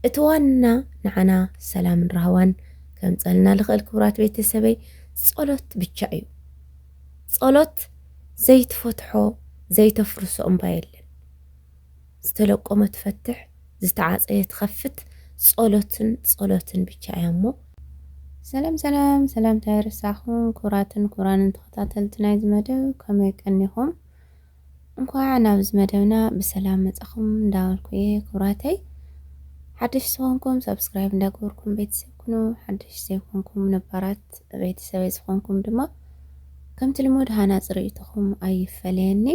እቲ ዋና ንዓና ሰላምን ራህዋን ከምጸልና ልኽእል ክቡራት ቤተሰበይ ጸሎት ብቻ እዩ ጸሎት ዘይትፈትሖ ዘይተፍርሶ እምባ የለን ዝተለቆመ ትፈትሕ ዝተዓጸየ ትኸፍት ጸሎትን ጸሎትን ብቻ እያ እሞ ሰላም ሰላም ሰላምታ ይርሳኹም ኩራትን ኩራንን ተኸታተልቲ ናይዚ መደብ ከመይ ቀኒኹም እንኳዕ ናብዚ መደብና ብሰላም መጻኹም እንዳበልኩ እየ ክብራተይ ሓድሽ ዝኾንኩም ሰብስክራይብ እንዳገበርኩም ቤተሰብ ኩኑ ሓድሽ ዘይኮንኩም ነባራት ቤተሰበይ ዝኾንኩም ድማ ከምቲ ልሙድ ሃናፂ ርእይቶኹም ኣይፈለየኒ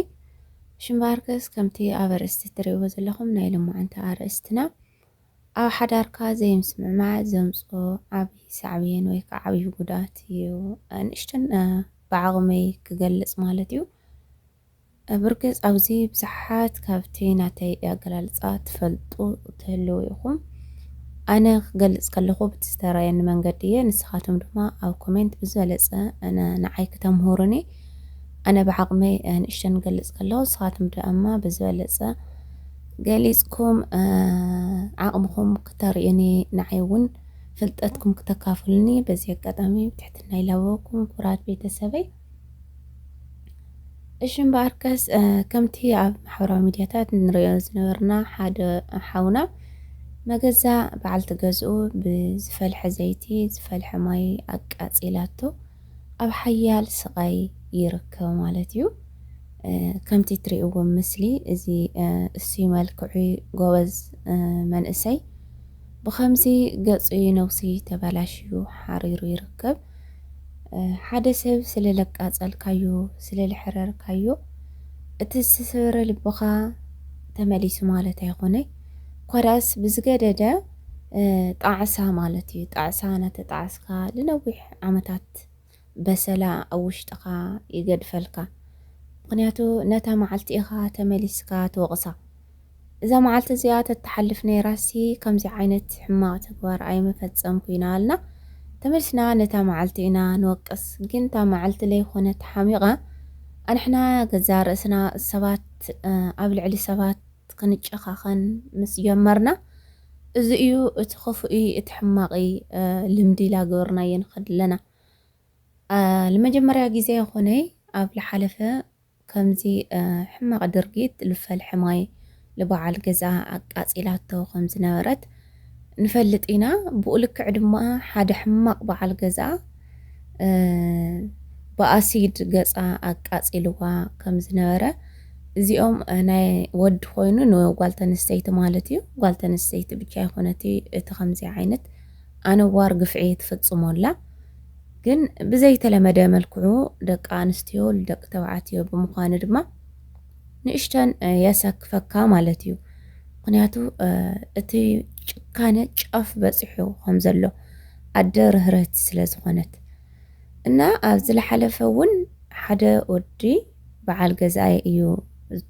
ሽምባርክስ ከምቲ ኣብ ኣርእስቲ እትርእይዎ ዘለኹም ናይ ሎማዓንቲ ኣርእስትና ኣብ ሓዳርካ ዘይምስምዕማዕ ዘምጽኦ ዓቢ ሳዕቤን ወይ ከኣ ዓቢ ጉድኣት እዩ ንእሽተን ብዓቕመይ ክገልጽ ማለት እዩ። ብርግጽ ኣብዚ ብዙሓት ካብቲ ናተይ ኣገላልጻ ትፈልጡ ትህልዉ ኢኹም። ኣነ ክገልጽ ከለኹ ብቲ ዝተራየኒ መንገዲ እየ ንስኻትኩም ድማ ኣብ ኮሜንት ብዝበለጸ ንዓይ ክተምህሩኒ ኣነ ብዓቕመይ ንእሽተን ክገልጽ ከለኹ ንስኻትኩም ድማ ብዝበለጸ ገሊጽኩም ዓቕምኹም ክተርእዩኒ ንዓይ ውን ፍልጠትኩም ክተካፍሉኒ በዚ ኣጋጣሚ ብትሕትና ይላበወኩም ኩራት ቤተሰበይ። እሺ እምበኣርከስ ከምቲ ኣብ ማሕበራዊ ሚዲያታት ንሪኦ ዝነበርና ሓደ ሓውና መገዛ በዓልቲ ገዝኡ ብዝፈልሐ ዘይቲ ዝፈልሐ ማይ ኣቃጺላቶ ኣብ ሓያል ስቓይ ይርከብ ማለት እዩ። ከምቲ ትሪእዎ ምስሊ እዚ እሱይ መልክዑይ ጎበዝ መንእሰይ ብኸምዚ ገጹይ ነብሱይ ተበላሽዩ ሓሪሩ ይርከብ። ሓደ ሰብ ስለ ለቃጸልካዮ ስለ ለሕረርካዮ እቲ ዝተሰበረ ልብኻ ተመሊሱ ማለት ኣይኾነይ እኳ ደኣስ ብዝገደደ ጣዕሳ ማለት እዩ ጣዕሳ እናተጣዓስካ ልነዊሕ ዓመታት በሰላ ኣብ ውሽጥኻ ይገድፈልካ ምኽንያቱ ነታ መዓልቲ ኢኻ ተመሊስካ ትወቕሳ እዛ መዓልቲ እዚኣ ተተሓልፍ ነይራሲ ከምዚ ዓይነት ሕማቕ ተግባር ኣይምፈጸምኩ ኢና ኣልና ተመልስና ነታ መዓልቲ ኢና ንወቅስ ግን እታ መዓልቲ ለይኮነት ሓሚቓ ኣንሕና ገዛ ርእስና ሰባት ኣብ ልዕሊ ሰባት ክንጨኻኸን ምስ ጀመርና፣ እዚ እዩ እቲ ኽፉኢ እቲ ሕማቚ ልምዲ ኢላ ገበርናዮ ንኸድ ኣለና። ልመጀመርያ ጊዜ ኣይኾነይ ኣብ ልሓለፈ ከምዚ ሕማቕ ድርጊት ልፈልሐ ማይ ልበዓል ገዝኣ ኣቃጺላቶ ከምዝነበረት፣ ንፈልጥ ኢና ብኡ ልክዕ ድማ ሓደ ሕማቅ በዓል ገዛ ብኣሲድ ገጻ ኣቃጺልዋ ከም ዝነበረ እዚኦም ናይ ወዲ ኮይኑ ንጓል ተንስተይቲ ማለት እዩ ጓል ተንስተይቲ ብቻ ይኮነቲ እቲ ከምዚ ዓይነት ኣነዋር ግፍዒ ትፍጽሞላ ግን ብዘይተለመደ መልክዑ ደቂ ኣንስትዮ ደቂ ተባዕትዮ ብምዃኑ ድማ ንእሽተን የሰክፈካ ማለት እዩ ምክንያቱ እቲ ጭካነ ጫፍ በፂሑ ከም ዘሎ ኣደ ርህርህቲ ስለ ዝኾነት እና ኣብ ዝለሓለፈ እውን ሓደ ወዲ በዓል ገዛይ እዩ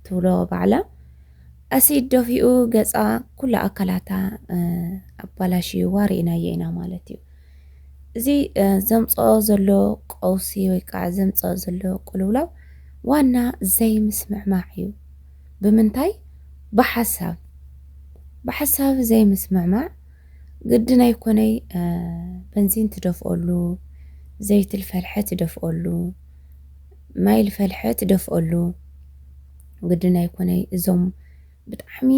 ትብሎ ባዕላ ኣሲድ ደፊኡ ገፃ ኩላ ኣካላታ ኣባላሽዩዋ ርኢናዮ ኢና ማለት እዩ እዚ ዘምፀኦ ዘሎ ቀውሲ ወይ ከዓ ዘምፀኦ ዘሎ ቅልውላው ዋና ዘይምስምዕማዕ እዩ። ብምንታይ? ብሓሳብ ብሓሳብ ዘይምስምዕማዕ ግድን ኣይኮነይ በንዚን ትደፍኦሉ፣ ዘይቲ ልፈልሐ ትደፍኦሉ፣ ማይ ልፈልሐ ትደፍኦሉ ግድን ኣይኮነይ እዞም ብጣዕሚ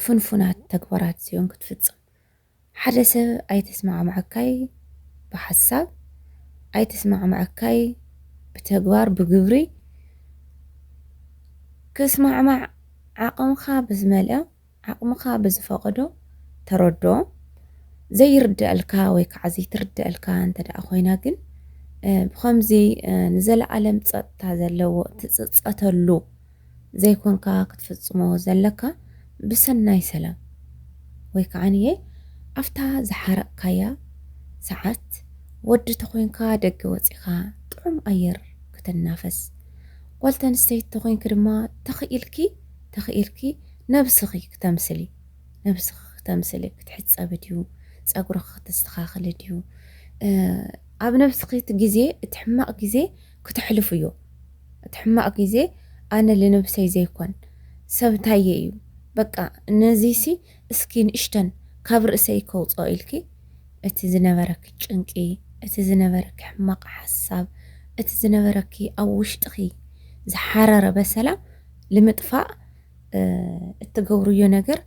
ፍንፉናት ተግባራት እዚኦም ክትፍፅም ሓደ ሰብ ኣይተስማዕመዐካይ ብሓሳብ ኣይተስማዕመዐካይ ብተግባር ብግብሪ ክስማዕማዕ ዓቕምኻ ብዝመልኦ ዓቕምኻ ብዝፈቐዶ ተረድኦ ዘይርደኣልካ ወይ ከዓ ዘይትርደኣልካ እንተ ደኣ ኮይና ግን ብኸምዚ ንዘለኣለም ፀጥታ ዘለዎ እትፅፀተሉ ዘይኮንካ ክትፍጽሞ ዘለካ ብሰናይ ሰላም ወይ ከዓንየ ኣብታ ዝሓረቅካያ ሰዓት ወዲ ተኮንካ ደገ ወጺካ ጥዑም ኣየር ክትናፈስ ጓል ተንስተይቲ ተኮንኪ ድማ ተክኢልኪ ተክኢልኪ ነብስኪ ክተምስሊ ነብስኪ ክተምስሊ ክትሕጸቢ ድዩ ጸጉርኪ ክትስተካክሊ ድዩ ኣብ ነብስኪ እቲ ግዜ እቲ ሕማቅ ግዜ ክተሕልፉ እዩ እቲ ሕማቅ ግዜ ኣነ ልንብሰይ ዘይኮን ሰብ ታየ እዩ በቃ ነዚሲ እስኪ ንእሽተን ካብ ርእሰይ ከውጾ ኢልኪ እቲ ዝነበረኪ ጭንቂ እቲ ዝነበረኪ ሕማቅ ሓሳብ እቲ ዝነበረኪ ኣብ ውሽጥኪ ዝሓረረ በሰላ ልምጥፋእ እትገብርዮ ነገር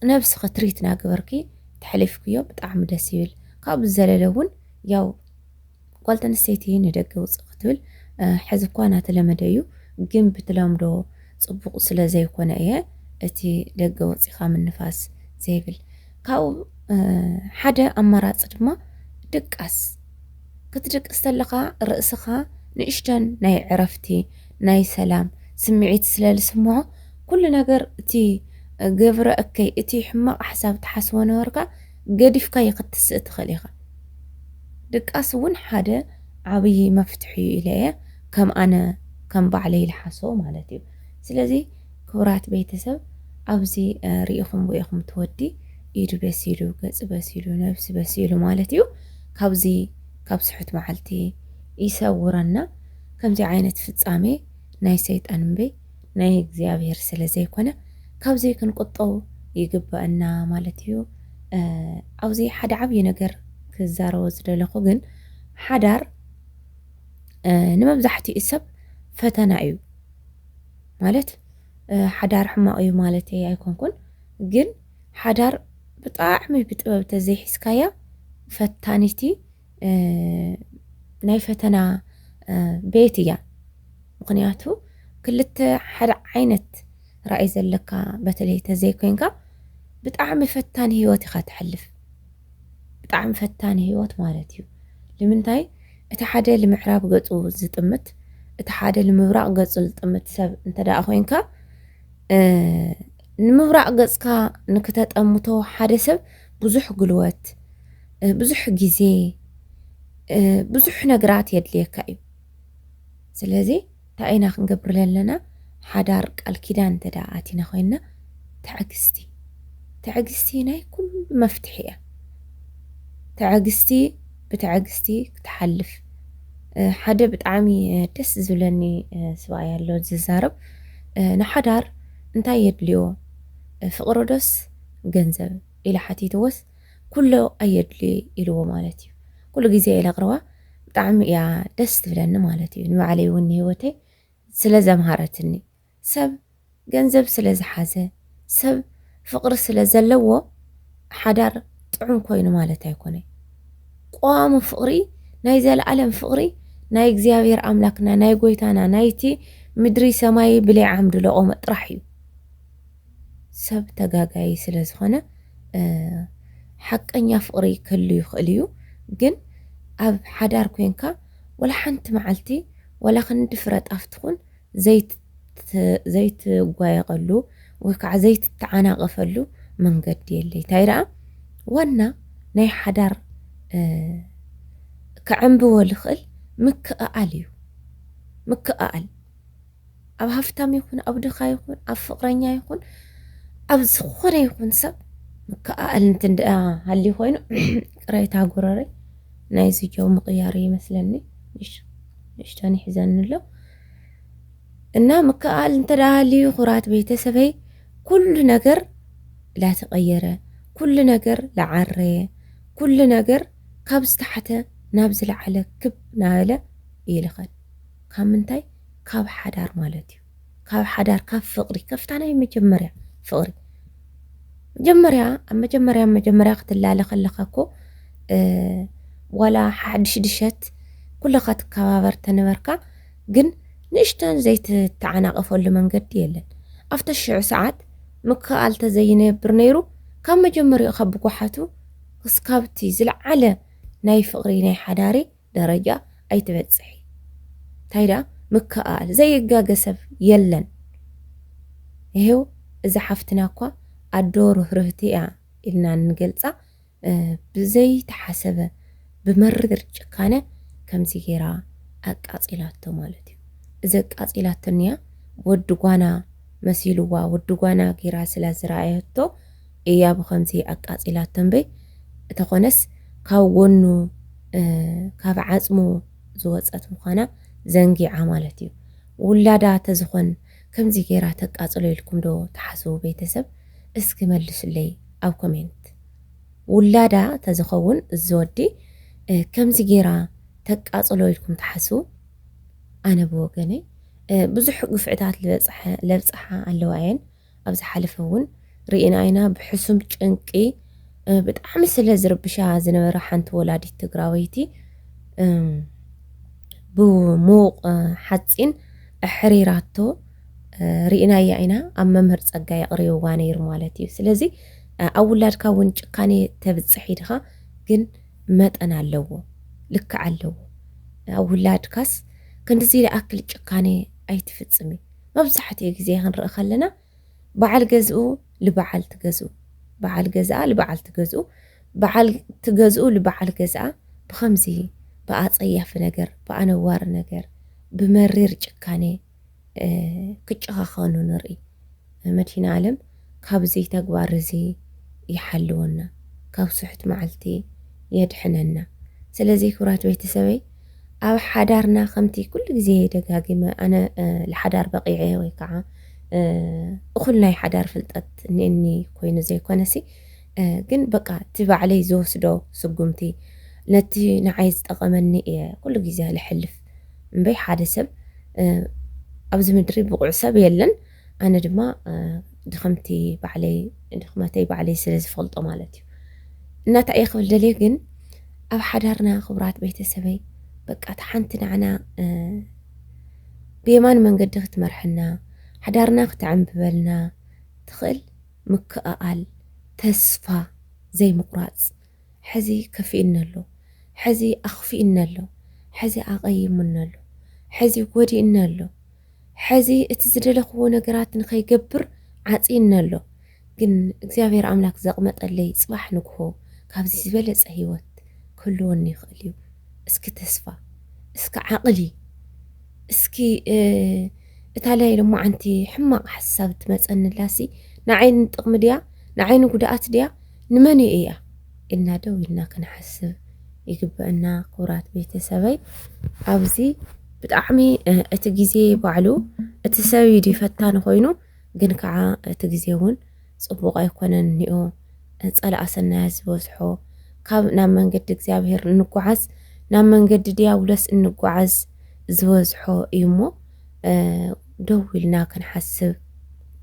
ነብስኪ ትሪት ናገበርኪ ተሕሊፍክዮ ብጣዕሚ ደስ ይብል ካብኡ ዝዘለለ እውን ያው ጓል ተንስተይቲ ንደገ ውጽእ ክትብል ሐዚ እኳ ናተለመደ እዩ ግን ብትለምዶ ጽቡቅ ስለ ዘይኮነ እየ እቲ ደገ ወጺካ ምንፋስ ዘይብል ካብኡ ሐደ ኣማራጺ ድማ ድቃስ ክትድቅስ ተለካ ርእስካ ንእሽተን ናይ ዕረፍቲ ናይ ሰላም ስምዒት ስለ ልስምዖ ኩሉ ነገር እቲ ግብረ እከይ እቲ ሕማቅ ሐሳብ ትሓስቦ ነበርካ ገዲፍካዮ ክትስእ ትኽእል ኢኻ። ድቃስ እውን ሓደ ዓብዪ መፍትሒ እዩ ኢለ እየ ከም ኣነ ከም ባዕለይ ልሓሶ ማለት እዩ። ስለዚ ክቡራት ቤተሰብ ኣብዚ ርኢኹምዎ ኢኹም እቲ ወዲ ኢዱ በሲሉ ገጹ በሲሉ ነብሲ በሲሉ ማለት እዩ። ካብዚ ካብ ስሑት መዓልቲ ይሰውረና። ከምዚ ዓይነት ፍጻሜ ናይ ሰይጣን እምበይ ናይ እግዚኣብሔር ስለ ዘይኮነ ካብዙይ ክንቁጠው ይግበእና ማለት እዩ ኣብዚ ሓደ ዓብዪ ነገር ክዛረቦ ዝደለኹ ግን ሓዳር ንመብዛሕትኡ ሰብ ፈተና እዩ ማለት ሓዳር ሕማቕ እዩ ማለት ኣይኮንኩን ግን ሓዳር ብጣዕሚ ብጥበብ ተዘይሒዝካያ ፈታኒቲ ናይ ፈተና ቤት እያ ምክንያቱ ክልተ ሓደ ዓይነት ራእይ ዘለካ በተለይ ተዘይኮይንካ ብጣዕሚ ፈታኒ ህይወት ኢኻ ትሕልፍ ብጣዕሚ ፈታኒ ህይወት ማለት እዩ ንምንታይ እቲ ሓደ ንምዕራብ ገፁ ዝጥምት እቲ ሓደ ንምብራቕ ገፁ ዝጥምት ሰብ እንተደኣ ኮይንካ ንምብራቕ ገጽካ ንክተጠምቶ ሓደ ሰብ ብዙሕ ጉልበት፣ ብዙሕ ግዜ፣ ብዙሕ ነገራት የድልየካ እዩ። ስለዚ እንታይ ኢና ክንገብር ዘለና? ሓዳር ቃል ኪዳን እንተ ደኣ ኣቲና ኮይንና ትዕግስቲ ትዕግስቲ ናይ ኩሉ መፍትሒ እያ። ትዕግስቲ ብትዕግስቲ ክትሓልፍ ሓደ ብጣዕሚ ደስ ዝብለኒ ስብኣይ ኣሎ ዝዛረብ ንሓዳር እንታይ የድልዮ ፍቕሮ ዶስ ገንዘብ ኢለ ሓቲትዎስ ኩሎ ኣየድልዮይ ኢልዎ ማለት እዩ ኩሉ ግዜ ኢለ ኣቕርባ ብጣዕሚ እያ ደስ ትብለኒ ማለት እዩ ንባዕለይ እውን ንህይወተይ ስለ ዘምሃረትኒ ሰብ ገንዘብ ስለ ዝሓዘ ሰብ ፍቕሪ ስለ ዘለዎ ሓዳር ጥዑም ኮይኑ ማለት ኣይኮነ ቆዋሚ ፍቕሪ ናይ ዘለኣለም ፍቕሪ ናይ እግዚኣብሔር ኣምላክና ናይ ጎይታና ናይቲ ምድሪ ሰማይ ብለይ ዓምዲ ለቆመ ጥራሕ እዩ ሰብ ተጋጋይ ስለ ዝኾነ ሓቀኛ ፍቕሪ ክህሉ ይኽእል እዩ ግን ኣብ ሓዳር ኮንካ ወላ ሓንቲ መዓልቲ ወላ ክንዲ ፍረ ጣፍ ትኹን ዘይትጓየቐሉ ወይ ከዓ ዘይትተዓናቐፈሉ መንገዲ የለይ ታይ ረኣ ዋና ናይ ሓዳር ክዕምብቦ ልኽእል ምክእኣል እዩ ምክእኣል ኣብ ሃፍታም ይኹን ኣብ ድኻ ይኹን ኣብ ፍቅረኛ ይኹን ኣብ ዝኾነ ይኹን ሰብ ምክኣል እንትን ደኣ ሃልዩ ኮይኑ ቅሬታ ጉረረይ ናይዚ ጀው ምቕያር ይመስለኒ እሺ ንእሽቶን ይሕዘኒ ኣሎ እና ምክኣል እንተዳሃልዩ ኩራት ቤተሰበይ ኩሉ ነገር ላተቐየረ ኩሉ ነገር ላዓረየ ኩሉ ነገር ካብ ዝተሓተ ናብ ዝለዓለ ክብ ናበለ ይልኸድ ካብ ምንታይ ካብ ሓዳር ማለት እዩ ካብ ሓዳር ካብ ፍቅሪ ከፍታ ናይ መጀመርያ ፍቅሪ መጀመርያ ኣብ መጀመርያ መጀመርያ ክትላለ ከለካ እኮ ዋላ ሓድሽ ድሸት ኩለካ ትከባበር ተነበርካ ግን ንእሽተን ዘይትተዓናቀፈሉ መንገዲ የለን ኣብተ ሽዑ ሰዓት ምክኣል ተዘይነብር ነይሩ ካብ መጀመሪኡ ካብ ብጓሓቱ ክስካብቲ ዝለዓለ ናይ ፍቅሪ ናይ ሓዳሪ ደረጃ ኣይትበጽሒ ታይ ድኣ ምክእኣል ዘይጋገ ሰብ የለን ይሄው እዛ ሓፍትና እኳ ኣዶ ርህርህቲ እያ ኢልና እንገልጻ ብዘይተሓሰበ ብመሪር ጭካነ ከምዚ ጌራ ኣቃጺላቶ ማለት እዩ እዚ ኣቃጺላቶ እንያ ወዲ ጓና መሲልዋ ወዲ ጓና ጌራ ስለ ዝረኣየቶ ኢያ ብከምዚ ኣቃጺላቶ እምበይ እተኮነስ ካብ ጎኑ ካብ ዓጽሙ ዝወጸት ምኳና ዘንጊዓ ማለት ኢዩ ውላዳ ተዝኮን ከምዚ ጌራ ተቃጽሎ ኢልኩም ዶ ትሓስቡ ቤተሰብ እስኪ መልሱለይ ኣብ ኮሜንት ውላዳ ተዝከውን እዚ ወዲ ከምዚ ጌራ ተቃጽሎ ኢልኩም ትሓስቡ ኣነ ብወገነይ ብዙሕ ግፍዕታት ልበጽሐ ለብጽሓ ኣለዋ ኢየን ኣብ ዝሓለፈ ውን ሪኢና ኢና ብሕሱም ጭንቂ ብጣዕሚ ስለ ዝርብሻ ዝነበራ ሓንቲ ወላዲት ትግራወይቲ ብሙውቅ ሓጺን ኣሕሪራቶ ሪኢናያ ኢና ኣብ መምህር ጸጋ የቅሪብዋ ነይሩ ማለት እዩ ስለዚ ኣብ ውላድካ ውን ጭካኔ ተብጽሕ ኢድኻ ግን መጠን ኣለዎ ልክዕ ኣለዎ ኣብ ውላድካስ ክንድዚ ይኣክል ጭካኔ ኣይትፍጽሚ መብዛሕትኡ ግዜ ክንርኢ ከለና በዓል ገዝኡ ልበዓልቲ ገዝኡ፣ በዓል ገዝኣ ልበዓልቲ ገዝኡ፣ በዓልቲ ገዝኡ ልበዓል ገዝኣ ብኸምዚ ብኣጸያፊ ነገር፣ ብኣነዋሪ ነገር፣ ብመሪር ጭካኔ ክጨኻኸኑ ንርኢ። መድሂን ኣለም ካብዚ ተግባር እዚ ይሓልወና ካብ ስሑት መዓልቲ የድሕነና ስለዚ ክብራት ቤተሰበይ ኣብ ሓዳርና ከምቲ ኩሉ ግዜ ደጋጊመ ኣነ ልሓዳር በቂዐ ወይ ከዓ እኹል ናይ ሓዳር ፍልጠት እኒኒ ኮይኑ ዘይኮነሲ ግን በቃ እቲ ባዕለይ ዝወስዶ ስጉምቲ ነቲ ንዓይ ዝጠቐመኒ እየ ኩሉ ግዜ ልሕልፍ እምበይ ሓደ ሰብ ኣብዚ ምድሪ ብቑዕ ሰብ የለን ኣነ ድማ ድኽምቲ ባዕለይ ድኽመተይ ባዕለይ ስለ ዝፈልጦ ማለት እዩ እና እንታይ እየ ክብል ደልየ ግን ኣብ ሓዳርና ክቡራት ቤተሰበይ በቃ እቲ ሓንቲ ንዓና ብየማን መንገዲ ክትመርሐና ሓዳርና ክተዕምብበልና ትኽእል ምክእኣል ተስፋ ዘይምቑራፅ ሕዚ ከፊእኒ ኣሎ ሕዚ ኣኽፊእኒ ኣሎ ሕዚ ኣቐይሙኒ ኣሎ ሕዚ ጎዲእኒ ኣሎ ሐዚ እቲ ዝደለኽዎ ነገራት ንኸይገብር ዓፅይኒ ኣሎ ግን እግዚኣብሔር ኣምላክ ዘቅመጠለይ ፅባሕ ንግሆ ካብዚ ዝበለፀ ሂወት ክህልወኒ ይኽእል እዩ እስኪ ተስፋ እስኪ ዓቅሊ እስኪ እታ ላይ ሎማዓንቲ ሕማቅ ሓሳብ እትመፀኒላሲ ናዓይ ንጥቅሚ ድያ ናዓይ ንጉድኣት ድያ ንመን ኢያ ኢልና ደው ኢልና ክንሓስብ ይግበእና ኩብራት ቤተሰበይ ኣብዚ ብጣዕሚ እቲ ግዜ ባዕሉ እቲ ሰብ እዩ ድዩ ፈታኒ ኮይኑ ግን ከዓ እቲ ግዜ እውን ፅቡቅ ኣይኮነን እኒኦ ጸላኣ ሰናያት ዝበዝሖ ካብ ናብ መንገዲ እግዚኣብሔር እንጓዓዝ ናብ መንገዲ ዲያብሎስ እንጓዓዝ ዝበዝሖ እዩ እሞ ደው ኢልና ክንሓስብ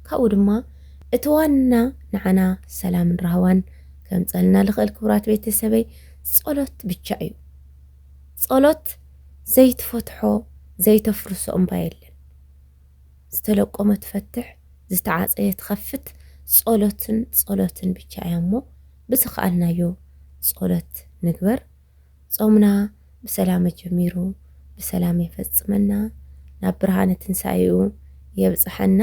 ካብኡ ድማ እቲ ዋና ንዓና ሰላምን ራህዋን ከምጸልና ልኽእል ክብራት ቤተሰበይ ጸሎት ብቻ እዩ ጸሎት ዘይትፈትሖ ዘይተፍርሶ እምባ የለን ዝተለቆመ ትፈትሕ ዝተዓጸየ ትኸፍት ጸሎትን ጸሎትን ብቻ እያ እሞ ብዝኸኣልናዮ ጸሎት ንግበር ጾምና ብሰላም ኣጀሚሩ ብሰላም የፈጽመና ናብ ብርሃነ ትንሳኤኡ የብጽሐና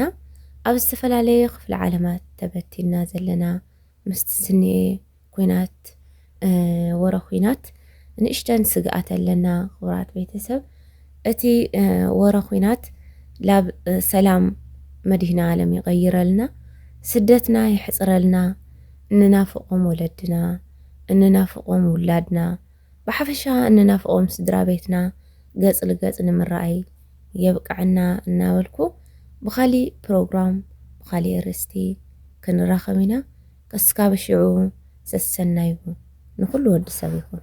ኣብ ዝተፈላለየ ክፍለ ዓለማት ተበቲንና ዘለና ምስቲ ዝንኤ ኩናት ወረ ኩናት ንእሽተን ስግኣት ኣለና ክቡራት ቤተሰብ እቲ ወረ ኩናት ላብ ሰላም መድህና ዓለም ይቐይረልና ስደትና ይሕፅረልና ንናፍቖም ወለድና እንናፍቖም ውላድና፣ ብሓፈሻ እንናፍቖም ስድራቤትና ገጽ ልገጽ ንምራኣይ የብቀዐና እናበልኩ ብኻሊእ ፕሮግራም ብኻሊእ ኣርእስቲ ክንራኸብ ኢና ከስካብ ሽዑ ሰሰናዩ ንኹሉ ወዲ ሰብ ይኹን።